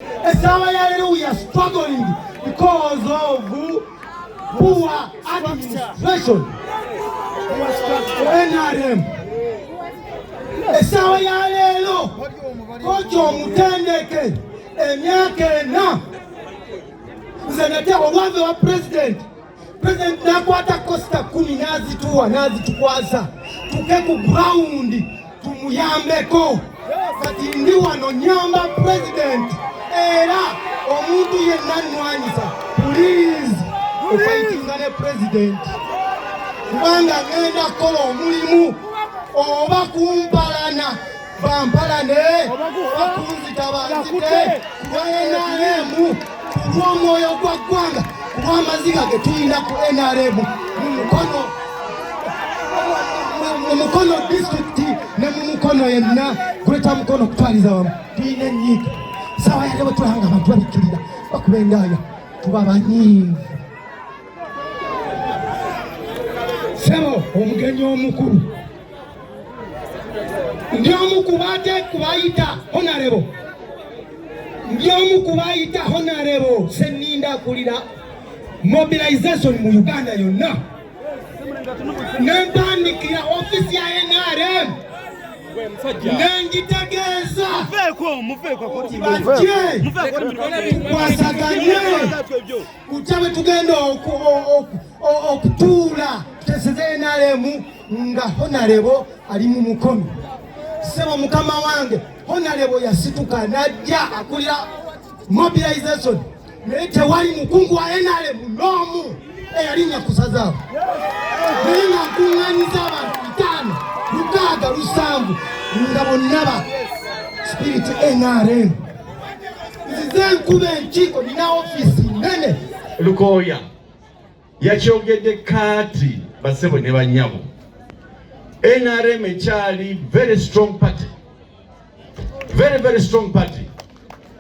Esaawa ya leero we are struggling because of poor administration NRM. Esaawa ya leero koki omutendeke emyaka ena nze nate olwave wa president President nakwata kosita kumi nazituwa nazitukwasa tuke ku ground tumuyambeko kati ndi wano nyamba president era omuntu yenna nnwanyisa please ofaitinga ne president kubanga ngenda kukola omulimu oba kumpalana bampalane bakunzita banzite kuba nrm kulw'omwoyo gwa ggwanga kuba amaziga ge tulina ku nrm mu mukono mu mukono disitulikiti ne mu mukono yenna gweta mukono okutwaliza wamu tulina enyiiga sawa yale bwe tulanga abantu babikkirira bakuba endaaya tuba banyiivu sebo omugenyi omukulu ndi omu kubate kubayita honarebo ndi omu kubayita honarebo seninda akulira mobilization mu uganda yonna nempandikira ofisi ya nrm nengitegeeza tukwasaganye kutya bwe tugenda okutuula tuteseze nrm nga honalebo ali mu mukono sebo mukama wange honalebo yasituka najja akulira mobilization naye tewali mukungu wa nrm n'omu eyalinnya ku sazaabo naye nga nkuŋŋanyiza abantu bitaano lukaaga lusanvu nga bonna ba sipiriti nrm nzize nkuba enkiiko nina ofiisi nnene lukooya yakyogedde kaati basebo ne banyabo nrm ekyali very strong party very very strong party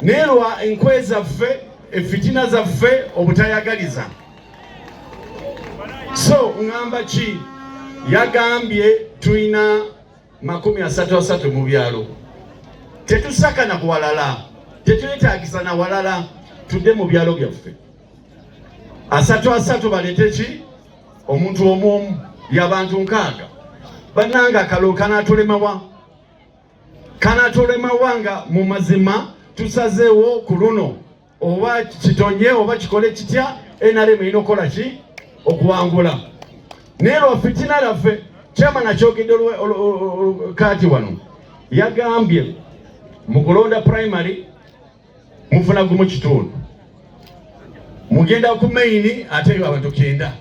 naye lwa enkwe zaffe efitina zaffe obutayagaliza so ngamba ki yagambye tulina makumi asatu asatu mu byalo tetusakana ku walala tetwetagisa na walala tudde mu byalo byaffe asatu asatu balete ki omuntu omu omu yabantu nkaaga bananga kalo kanatulemawa kanatulemawa nga mu mazima tusazeewo ku luno oba kitonye oba kikole kitya enaremu erina okukola ki okuwangula naye lwa fitina laffe kyama nakyogedde kaati wano yagambye mu kulonda primary mufuna gumu kitundu mugenda ku maini ate yo abantu kenda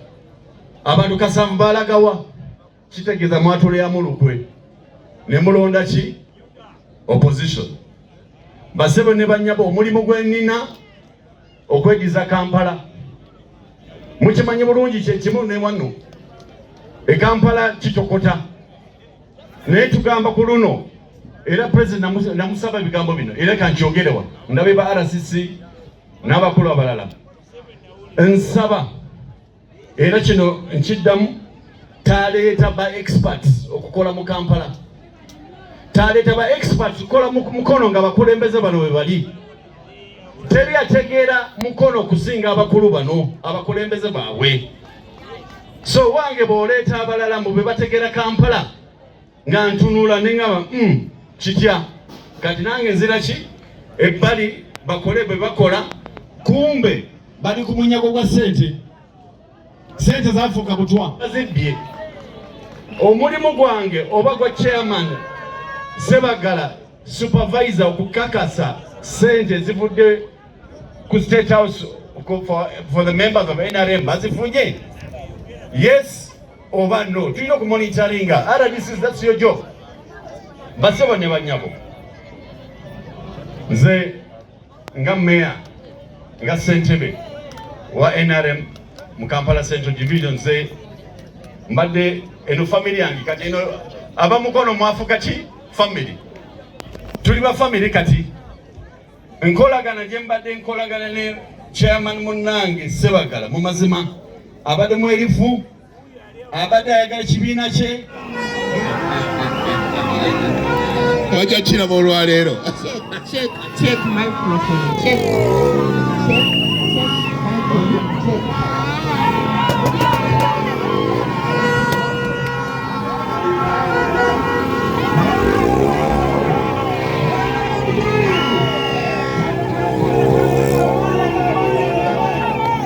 abantu kasanvu balagawa kitegeeza mwatuleyamu lukwe ne mulonda ki opposition basebo ne banyabo omulimu gwenina okwediza kampala mukimanyi bulungi kyekimu newano ekampala kitokota naye tugamba ku luno era president namusaba ebigambo bino era kankyogere wano ndabe ba RCC n'abakulu abalala nsaba era kino nkiddamu taleeta ba experts okukola mu Kampala taleeta ba experts kukola mu mukono nga bakulembeze bano bwe bali teri ategeera mukono okusinga abakulu bano abakulembeze baabwe so wange bwoleeta abalala mbu bebategera kampala nga ntunula neŋaba mm, kitya kati nange nzira ki ebbali bakole bwe bakola kumbe bali ku munyago gwa sente sente zafuuka butwa zibbye omulimu gwange oba gwa chairman sebagala supervisor okukakasa sente ezivudde ku state house for, for the members of nrm bazifunye yes oba no tulina okumonitaringa rdc thats your job basebo ne banyabo nze nga meya nga ssentebe wa nrm mu kampala central division ze mbadde eno family yange kati eno abamukono mwafuka ki family tuli ba family kati nkolagana gye mbadde nkolagana ne chairman munnange sebagala mu mazima abadde mwerifu abadde ayagala kibiina kye wajja kiraba olwaleero